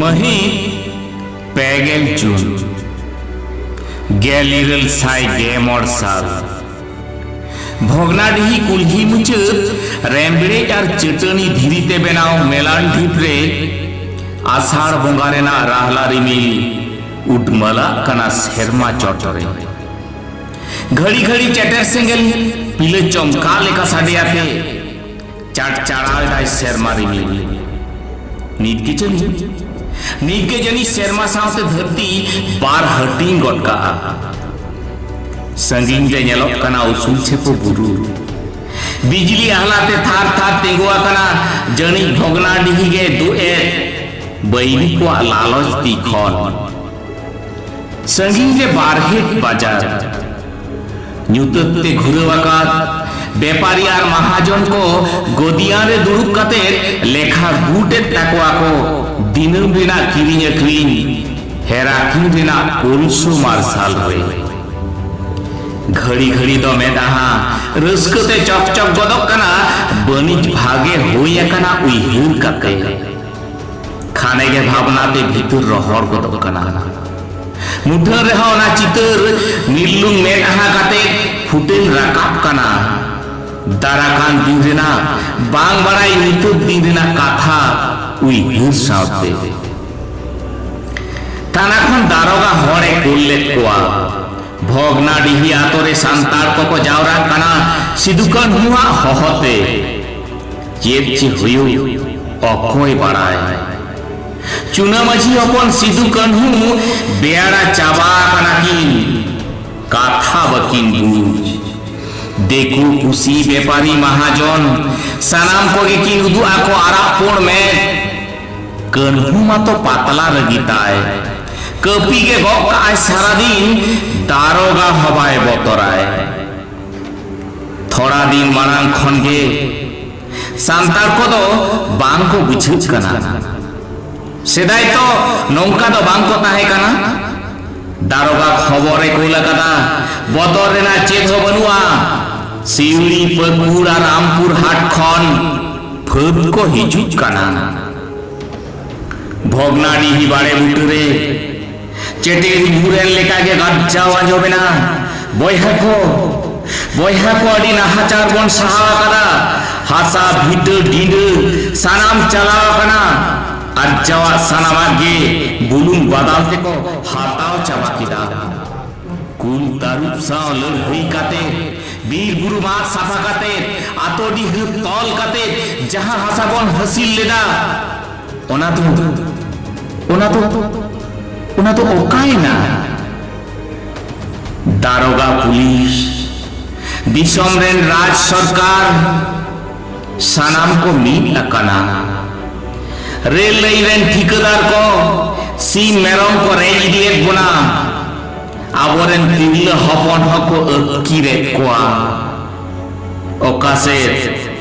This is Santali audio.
ᱢᱟᱹᱦᱤᱛ ᱯᱮᱜᱮᱞ ᱡᱩᱱ ᱜᱮᱞ ᱤᱨᱟᱹᱞ ᱥᱟᱭ ᱜᱮ ᱢᱚᱬ ᱥᱟᱞ ᱵᱷᱚᱜᱽᱱᱟᱰᱤᱦᱤ ᱠᱩᱞᱦᱤ ᱢᱩᱪᱟᱹᱫ ᱨᱮᱢᱵᱲᱮᱡ ᱟᱨ ᱪᱟᱹᱴᱟᱹᱱᱤ ᱫᱷᱤᱨᱤ ᱛᱮ ᱵᱮᱱᱟᱣ ᱢᱮᱞᱟᱱ ᱰᱷᱤᱯ ᱨᱮ ᱟᱥᱟᱲ ᱵᱚᱸᱜᱟ ᱨᱮᱱᱟᱜ ᱨᱟᱦᱞᱟ ᱨᱤᱢᱤᱞ ᱩᱰᱢᱟᱞᱟᱜ ᱠᱟᱱᱟ ᱥᱮᱨᱢᱟ ᱪᱚᱴ ᱨᱮ ᱜᱷᱟᱹᱲᱤ ᱜᱷᱟᱹᱲᱤ ᱪᱮᱴᱮᱨ ᱥᱮᱸᱜᱮᱞ ᱯᱤᱞᱟᱹ ᱪᱚᱢᱠᱟ ᱞᱮᱠᱟ ᱥᱟᱰᱮᱭᱟᱛᱮ ᱪᱟᱲᱪᱟᱲᱟᱣ ᱮᱫᱟᱭ ᱥᱮᱨᱢᱟ ᱨᱤᱢᱤᱞ ᱱᱤᱛ ᱜᱮ ᱡᱟᱹᱱᱤᱡ ᱱᱤᱛ ᱜᱮ ᱡᱟᱹᱱᱤᱡ ᱥᱮᱨᱢᱟ ᱥᱟᱶᱛᱮ ᱫᱷᱟᱹᱨᱛᱤ ᱵᱟᱨ ᱦᱟᱹᱴᱤᱧ ᱜᱚᱫ ᱠᱟᱜᱼᱟ ᱥᱟᱺᱜᱤᱧ ᱨᱮ ᱧᱮᱞᱚᱜ ᱠᱟᱱᱟ ᱩᱥᱩᱞ ᱪᱷᱮᱯᱚ ᱵᱩᱨᱩ ᱵᱤᱡᱽᱞᱤ ᱟᱦᱞᱟᱛᱮ ᱛᱷᱟᱨ ᱛᱷᱟᱨ ᱛᱤᱸᱜᱩ ᱟᱠᱟᱱᱟ ᱡᱟᱹᱱᱤᱡ ᱵᱷᱚᱜᱽᱱᱟᱰᱤᱦᱤ ᱜᱮ ᱫᱩᱜ ᱮᱫ ᱵᱟᱹᱭᱨᱤ ᱠᱚᱣᱟᱜ ᱞᱟᱞᱚᱪ ᱛᱤ ᱠᱷᱚᱱ ᱥᱟᱺᱜᱤᱧ ᱨᱮ ᱵᱟᱨᱦᱮᱴ ᱵᱟᱡᱟᱨ ᱧᱩᱛᱟᱹᱛ ᱛᱮ ᱜᱷᱩᱨᱟᱹᱣ ᱟᱠᱟᱫ ᱵᱮᱯᱟᱨᱤ ᱟᱨ ᱢᱟᱦᱟᱡᱚᱱ ᱠᱚ ᱜᱚᱫᱤᱭᱟᱱ ᱨᱮ ᱫᱩᱲᱩᱵ ᱠᱟᱛᱮ ᱞᱮᱠᱷᱟ ᱜᱩᱴᱮᱫ ᱛᱟᱠᱚᱣᱟ ᱠᱚ ᱫᱤᱱᱟᱹᱢ ᱨᱮᱱᱟᱜ ᱠᱤᱨᱤᱧ ᱟᱹᱠᱷᱨᱤᱧ ᱦᱮᱨᱟᱠᱤᱧ ᱨᱮᱱᱟᱜ ᱯᱩᱨᱩᱥᱩ ᱢᱟᱨᱥᱟᱞ ᱨᱮ ᱜᱷᱟᱹᱲᱤ ᱜᱷᱟᱹᱲᱤ ᱫᱚ ᱢᱮᱫᱟᱦᱟ ᱨᱟᱹᱥᱠᱟᱹ ᱛᱮ ᱪᱚᱠ ᱪᱚᱠ ᱜᱚᱫᱚᱜ ᱠᱟᱱᱟ ᱵᱟᱹᱱᱤᱡ ᱵᱷᱟᱜᱮ ᱦᱩᱭ ᱟᱠᱟᱱᱟ ᱩᱭᱦᱟᱹᱨ ᱠᱟᱛᱮ ᱠᱷᱟᱱᱮ ᱜᱮ ᱵᱷᱟᱵᱽᱱᱟ ᱛᱮ ᱵᱷᱤᱛᱩᱨ ᱨᱚᱦᱚᱲ ᱜᱚᱫᱚᱜ ᱠᱟᱱᱟ ᱢᱩᱴᱷᱟᱹᱱ ᱨᱮᱦᱚᱸ ᱚᱱᱟ ᱪᱤᱛᱟᱹᱨ ᱱᱤᱨᱞᱩᱝ ᱢᱮᱫ ᱟᱦᱟ ᱠᱟᱛᱮ ᱯᱷᱩᱴᱮᱞ ᱨᱟᱠᱟᱵ ᱠᱟᱱᱟ ᱫᱟᱨᱟ ᱠᱟᱱ ᱫᱤᱱ ᱨᱮᱱᱟᱜ ᱵᱟᱝ ᱵᱟᱲᱟᱭ ᱧᱩᱛᱟᱹᱛ ᱫᱤᱱ ᱨᱮᱱᱟᱜ ᱠᱟᱛᱷᱟ ᱩᱭᱦᱟᱹᱨ ᱥᱟᱶᱛᱮ ᱛᱟᱱᱟ ᱠᱷᱚᱱ ᱫᱟᱨᱚᱜᱟ ᱦᱚᱲᱮ ᱠᱩᱞ ᱞᱮᱫ ᱠᱚᱣᱟ ᱵᱷᱚᱜᱽᱱᱟ ᱰᱤᱦᱤ ᱟᱛᱳ ᱨᱮ ᱥᱟᱱᱛᱟᱲ ᱠᱚᱠᱚ ᱡᱟᱣᱨᱟᱜ ᱠᱟᱱᱟ ᱥᱤᱫᱩ ᱠᱟᱹᱱᱦᱩᱣᱟᱜ ᱦᱚᱦᱚᱛᱮ ᱪᱮᱫ ᱪᱮ ᱦᱩᱭᱩᱜ ᱚᱠᱚᱭ ᱵᱟᱲᱟᱭ ᱪᱩᱱᱟ ᱢᱟᱹᱡᱷᱤ ᱦᱚᱯᱚᱱ ᱥᱤᱫᱩ ᱠᱟᱹᱱᱦᱩ ᱵᱮᱲᱟ ᱪᱟᱵᱟ ᱠᱟᱱᱟ ᱠᱤᱱ ᱠᱟᱛᱷᱟ ᱵᱟᱹᱠᱤᱱ ᱵᱩᱡᱽ ᱫᱮᱠᱩ ᱯᱩᱥᱤ ᱵᱮᱯᱟᱨᱤ ᱢᱟᱦᱟᱡᱚᱱ ᱥᱟᱱᱟᱢ ᱠᱚᱜᱮ ᱠᱤᱱ ᱩᱫᱩᱜ ᱟᱠᱚ ᱟᱨᱟᱜ ᱯᱩᱬ ᱢᱮᱫ ᱠᱟᱹᱱᱦᱩ ᱢᱟᱛᱚ ᱯᱟᱛᱞᱟ ᱨᱟᱹᱜᱤ ᱛᱟᱭ ᱠᱟᱹᱯᱤ ᱜᱮ ᱜᱚᱜ ᱠᱟᱜᱼᱟᱭ ᱥᱟᱨᱟᱫᱤᱱ ᱫᱟᱨᱚᱜᱟ ᱦᱚᱸ ᱵᱟᱭ ᱵᱚᱛᱚᱨᱟᱭ ᱛᱷᱚᱲᱟ ᱫᱤᱱ ᱢᱟᱲᱟᱝ ᱠᱷᱚᱱ ᱜᱮ ᱥᱟᱱᱛᱟᱲ ᱠᱚᱫᱚ ᱵᱟᱝ ᱠᱚ ᱵᱩᱡᱷᱟᱹᱜ ᱠᱟᱱᱟ ᱥᱮᱫᱟᱭ ᱛᱚ ᱱᱚᱝᱠᱟ ᱫᱚ ᱵᱟᱝ ᱠᱚ ᱛᱟᱦᱮᱸ ᱠᱟᱱᱟ ᱫᱟᱨᱚᱜᱟ ᱠᱷᱚᱵᱚᱨᱮ ᱠᱩᱞ ᱟᱠᱟᱫᱟ ᱵᱚᱛᱚᱨ ᱨᱮᱱᱟᱜ ᱪᱮᱫ ᱦᱚᱸ ᱵᱟᱹᱱᱩᱜᱼᱟ ᱥᱤᱣᱲᱤ ᱯᱟᱹᱠᱩᱲ ᱟᱨ ᱨᱟᱢᱯᱩᱨ ᱦᱟᱴ ᱠᱷᱚᱱ ᱯᱷᱟᱹᱫ ᱠᱚ ᱦᱤᱡᱩᱜ ᱠᱟᱱᱟ ᱵᱷᱚᱜᱽᱱᱟᱰᱤᱦᱤ ᱵᱟᱲᱮ ᱵᱩᱴᱟᱹ ᱨᱮ ᱪᱮᱴᱮ ᱧᱩᱨᱮᱱ ᱞᱮᱠᱟ ᱜᱮ ᱜᱟᱨᱡᱟᱣ ᱟᱸᱡᱚᱢᱮᱱᱟ ᱵᱚᱭᱦᱟ ᱠᱚ ᱵᱚᱭᱦᱟ ᱠᱚ ᱟᱹᱰᱤ ᱱᱟᱦᱟᱪᱟᱨ ᱵᱚᱱ ᱥᱟᱦᱟᱣ ᱟᱠᱟᱫᱟ ᱦᱟᱥᱟ ᱵᱷᱤᱛᱟᱹ ᱰᱤᱸᱰᱟᱹ ᱥᱟᱱᱟᱢ ᱪᱟᱞᱟᱣ ᱟᱠᱟᱱᱟ ᱟᱨᱡᱟᱣᱟᱜ ᱥᱟᱱᱟᱢᱟᱜ ᱜᱮ ᱵᱩᱞᱩᱝ ᱵᱟᱫᱟᱞ ᱛᱮᱠᱚ ᱦᱟᱛᱟᱣ ᱪᱟᱵᱟ ᱠᱮᱫᱟ ᱠᱩᱞ ᱛᱟᱹᱨᱩᱵ ᱥᱟᱶ ᱞᱟᱹᱲᱦᱟᱹᱭ ᱠᱟᱛᱮ ᱵᱤᱨ ᱵᱩᱨᱩ ᱢᱟᱜ ᱥᱟᱯᱷᱟ ᱠᱟᱛᱮ ᱟᱛᱳ ᱰᱤᱦᱟᱹ ᱛᱚᱞ ᱠᱟᱛᱮ ᱡᱟᱦᱟᱸ ᱦᱟᱥᱟ ᱵᱚᱱ ᱦᱟᱹᱥᱤᱞ ᱞᱮᱫᱟ ᱚᱱᱟ ᱫᱚ ᱚᱱᱟ ᱫᱚ ᱚᱱᱟ ᱫᱚ ᱚᱠᱟᱭᱮᱱᱟ ᱫᱟᱨᱚᱜᱟ ᱯᱩᱞᱤᱥ ᱫᱤᱥᱚᱢ ᱨᱮᱱ ᱨᱟᱡᱽ ᱥᱚᱨᱠᱟᱨ ᱥᱟᱱᱟᱢ ᱠᱚ ᱢᱤᱫ ᱟᱠᱟᱱᱟ ᱨᱮᱞ ᱞᱟᱹᱭ ᱨᱮᱱ ᱴᱷᱤᱠᱟᱹᱫᱟᱨ ᱠᱚ ᱥᱤᱢ ᱢᱮᱨᱚᱢ ᱠᱚ ᱨᱮᱡ ᱤᱫᱤᱭᱮᱫ ᱵᱚᱱᱟ ᱟᱵᱚᱨᱮᱱ ᱛᱤᱨᱞᱟᱹ ᱦᱚᱯᱚᱱ ᱦᱚᱸᱠᱚ ᱟᱹᱛᱠᱤᱨᱮᱫ ᱠᱚᱣᱟ ᱚᱠᱟ ᱥᱮᱫ